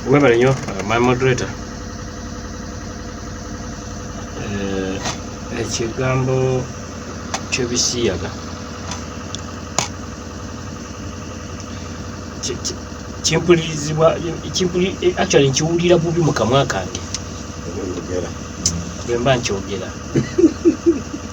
webale nnyo uh, my moderator eh, ekigambo kyebisiyaga kimpulirizibwa eh, actually nkiwulira bubi mu kamwa kange bwemba nkyogera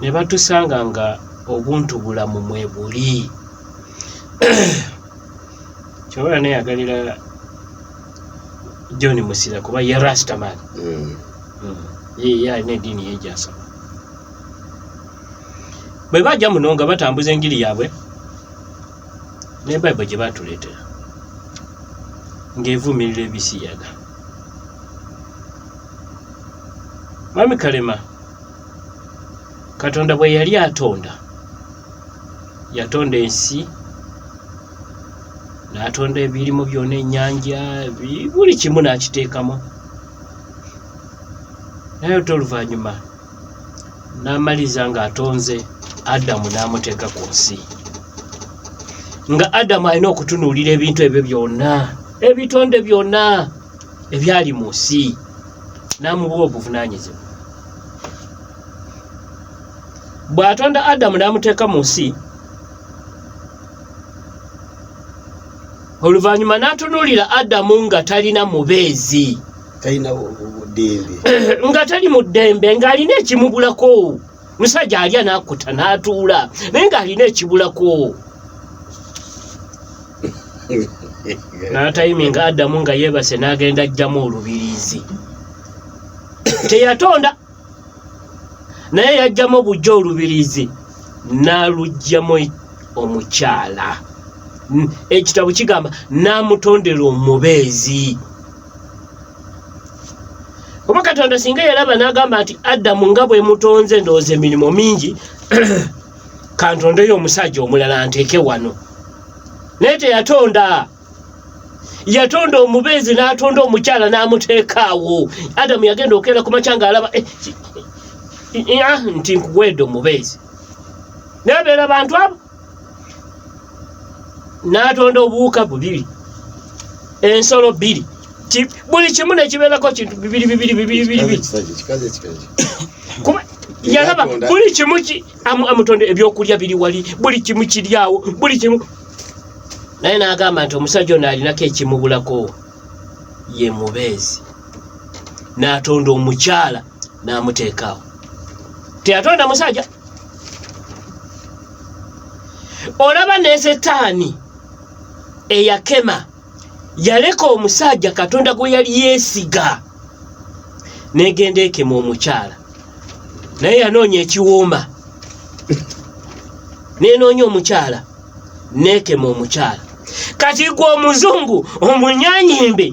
ne batusanga nga obuntu bulamu mwe buli kyobola neyagalira john musira kuba ye rastaman mm. mm. ye ye alina ediini yejasaba bwe bajja muno nga batambuza enjiri yaabwe ne bible gye batuleetera ng'evumirira ebisiyaga mwami kalema katonda bwe yali atonda yatonda ensi n'atonda ebirimu byona ennyanja buli kimu n'akiteekamu naye ate oluvannyuma n'amaliriza ng'atonze adamu n'amuteeka ku nsi nga adamu alina okutunuulira ebintu ebyo byonna ebitonde byonna ebyali mu nsi n'amubuwa obuvunaanyizibwa bw'atonda adamu n'amuteeka mu nsi oluvannyuma n'atunuulira adamu nga talina mubeezi nga tali mu ddembe ng'alina ekimubulako musajja alya nakuta natuula naye nga alina ekibulako natayimi nga adamu nga yebase nagenda ajjamu olubirizi teyatonda naye yajjamu obujja olubirizi nalujjamu omukyala ekitabo kigamba namutondera omubeezi oba katonda singa yalaba n'agamba nti adamu nga bwe mutonze ndowooza emirimu mingi kantondeyo omusajja omulala nteeke wano naye teyatonda yatonda omubeezi n'atonda omukyala n'amuteeka awo adamu yagenda okeera ku makya ng'alaba eh, eh, eh, ah, nti nkuweedde omubeezi naye beera bantu abo n'atonda obuwuka bubiri ensolo bbiri buli kimu nekibeerako kintu bibiri bibiri bibiri bibiri yalaba buli kimu amutonda ebyokulya biri wali buli kimu kiryawo buli kimu naye n'agamba nti omusajja ono alinako ekimubulako ye mubeezi n'atonda omukyala n'amuteekaawo teyatonda musajja olaba ne setaani eyakema yaleka omusajja katonda gwe yali yeesiga negenda ekema omukyala naye yanoonya ekiwuuma nenoonya omukyala nekema omukyala kati gwe omuzungu omunyanyimbe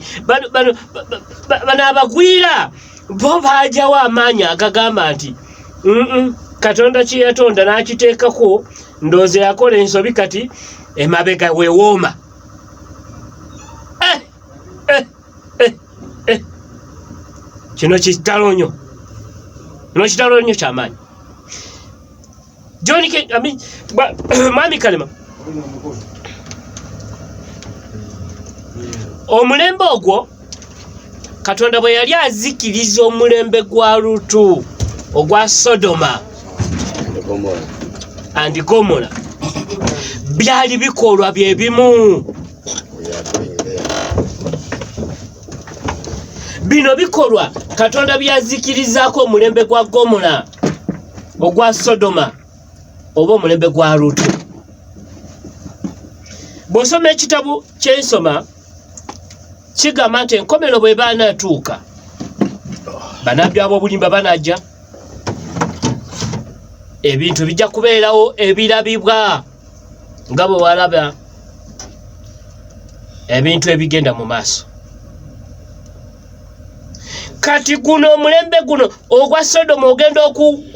bano abagwira bo baajawo amaanyi agagamba nti katonda kye yatonda n'akiteekako ndoozi yakola ensobi kati emabega wewooma eh, eh, eh, kino kitalo nyo kino kitalo nyo kyamaanyi John ke I mean ba, mami kalema omulembe ogwo katonda bwe yali azikiriza omulembe gwa lutu ogwa sodoma and gomora byali bikolwa bye bimu bino bikolwa katonda byazikirizaako omulembe gwa gomora ogwa sodoma oba omulembe gwa lutu bw'osoma ekitabo kyensoma kigamba nti enkomero bwe baanatuuka banabbi ab'obulimba banajja ebintu bijja kubeerawo ebirabibwa nga bwe walaba ebintu ebigenda mu maaso kati guno omulembe guno ogwa sodomu ogenda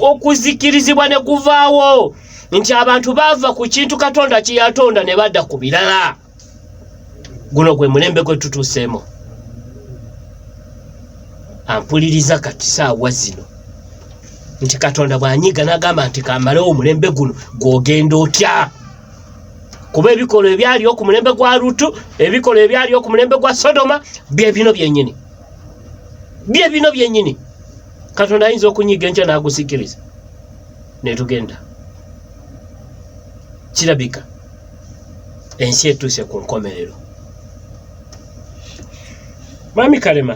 okuzikirizibwa ne guvaawo nti abantu baava ku kintu katonda kyeyatonda ne badda ku birala guno gwe mulembe gwe tutuuseemu ampuliriza kati saawa zino nti katonda bw'anyiga n'agamba nti kamalewo omulembe guno gw'ogenda otya kuba ebikolwa ebyaliwo ku mulembe gwa lutu ebikolwa ebyaliwo ku mulembe gwa sodoma bye bino byenyini bye bino byenyini katonda ayinza okunyiga enkya n'agusikiriza netugenda kirabika ensi etuuse ku nkomerero mwami kalema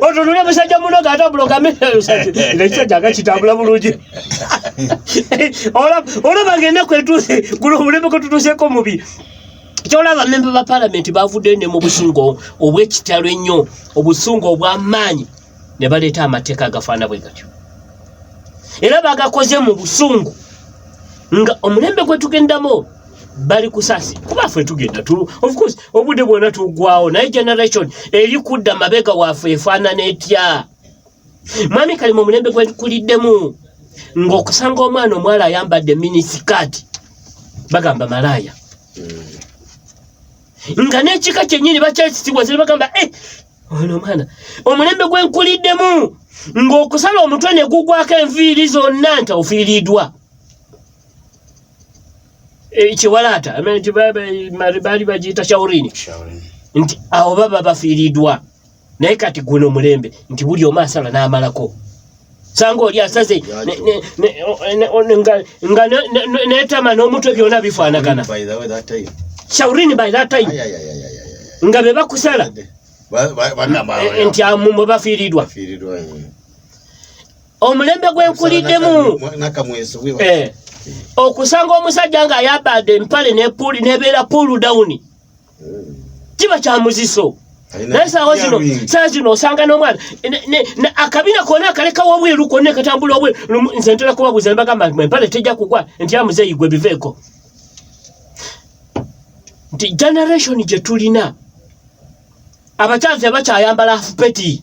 otunule musajja munoga ate abulogameekisajja akakitambula bulungi olaba ngenda kwetuuse guno omuleme kwetutuuseko mubi kyolaba memba ba palamenti bavuddeyo ne mu busungu obwekitalo ennyo obusungu obwamaanyi ne baleeta amateeka agafaana bwe gatyo era bagakoze mu busungu nga omulembe gwetugendamu bali kusasi kuba ffe tugenda tulu of course obudde bwona tugwawo naye generation eri kudda mabega waffe efaanana etya mwami kali mu mulembe gwekuliddemu ng'okusanga omwana omuwala ayambadde minisikaati bagamba malaaya hmm. nga n'ekika kyennyini bakyakisibwa ziri bagamba e ono omwana omulembe gwenkuliddemu ng'okusala omutwe ne gugwako enviiri zonna nti ofiiriddwa e, kiwalaata nti baali bagiyita shaurini nti awo baba bafiiriddwa naye kati guno mulembe nti buli omu asala n'amalako sanga oli asaze nga netama n'omutwe byona bifaanagana shaurini by that time nga be bakusala nti amumu bafiiriddwa omulembe gwenkuliddemu eh. okusanga omusajja nga ayabadde empale nepuli nebeera puulu dawuni hmm. kiba kyamuziso naye saawa zino saa zino osanga n'omwana akabina kona akalekawo obweru kona ekatambula obweru nze ntera kubabuuza ne bagamba nti empale tejja kugwa nti amuzeeyi gwe biveeko nti generation gye tulina abakyazi abakyayambala afupeti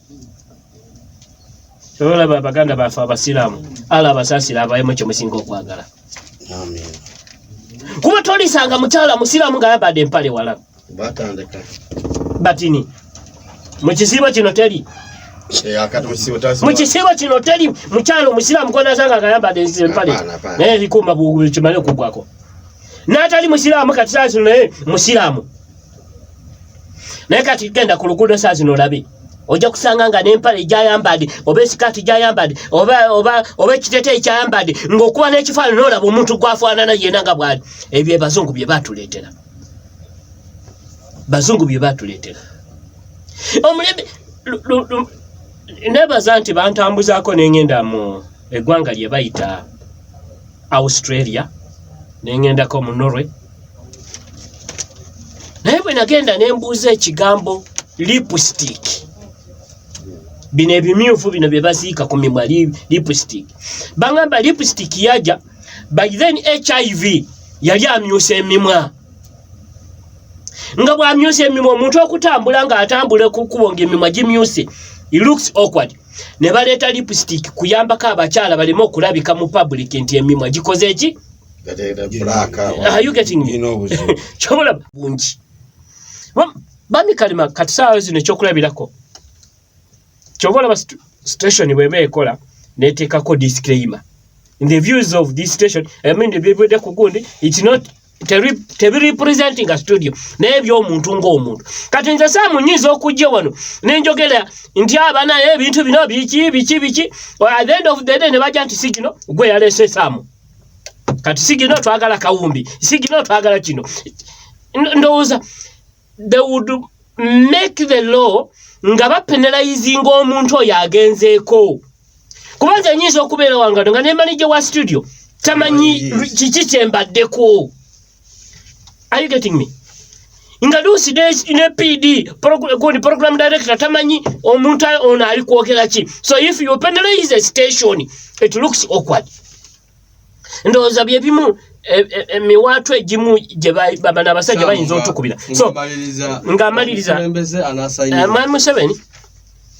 olaba abaganda baffe abasiraamu ala abasasira abayemu kye musinga okwagala kuba tolisanga mukyala musiraamu nga yabadde empale wala batini mu kisiibo kino teri mukisibo kino teri mukyalo musiramu konazanga agayambade empale naye likuuma kimale okugwako natali musiramu kati saa zino naye musiramu naye kati genda ku luguudo saa zino olabe ojja kusanga nga n'empale gyayambadde oba esikaati gyayambadde oba ekiteteyi kyayambadde ng'okuba n'ekifaanana olaba omuntu gwafaanana yena nga bwali ebyo ebazungu bye batuleetera bazungu bye batuleetera omulembe nebaza nti bantambuzaako nengenda mu eggwanga lye bayita Australia nengendako mu Norway naye bwe nagenda ne mbuuza ekigambo lipstick bino ebimyufu bino bye baziika ku mimwa lipstick bangamba lipstick yaja by then hiv yali amyusa emimwa nga bwamyusa emimwa omuntu okutambula nga atambula kukubo nga emimwa gimyuse looks awkward ne baleeta lipstick kuyambako abakyala baleme okulabika mu public nti emimwa gikoze eki kyobola bungi bami kalima kati saawa zino ekyokulabirako kyoba olaba station bweba ekola neteekako disclaimer in the views of this station i mean the people that could go it's not tebirepresentinga studio naye byomuntu ngaomuntu kati nze saamu nyinza okujja wano nenjogera nti aba naye ebintu bino biki biki biki the end of the day ne bajja nti sigino gwe yalese saamu kati sigino twagala kawumbi sigino twagala kino ndowooza they would make the law nga bapenalizinga omuntu oyo agenzeeko kuba nze nyinza okubeera wangado nga nemanija wa studio tamanyi kiki kyembaddeko are you getting me nga luusi ne pd gundi program director tamanyi omuntu ono ali kwogera ki so if you penalize station it looks awkward ndowooza bye bimu emiwaatu e, e, egimu gyebabana abasajja bayinza otukubira so nga amaliriza eh, mwami museveni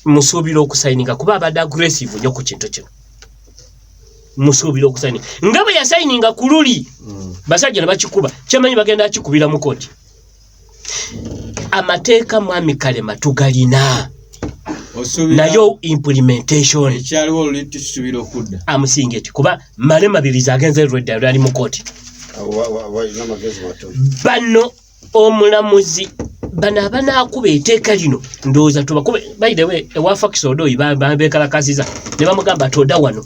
musuubira okusayininga kuba abadde aggressive nyo ku kintu kino musuubira okusayininga nga bwe yasayininga ku luli mm. basajja ne bakikuba kyemanyi bagenda akikubira mu koti amateeka mwami kalema tugalina nayo implementation ekyaliwo luli tusubira okudda amusinga eti kuba male mabirizi agenze lwedda lwali mu kooti bano omulamuzi bano abanaakuba eteeka lino ndowooza tubakube by the way ewa fakisi odooyi bekalakasiza ne bamugamba toda wano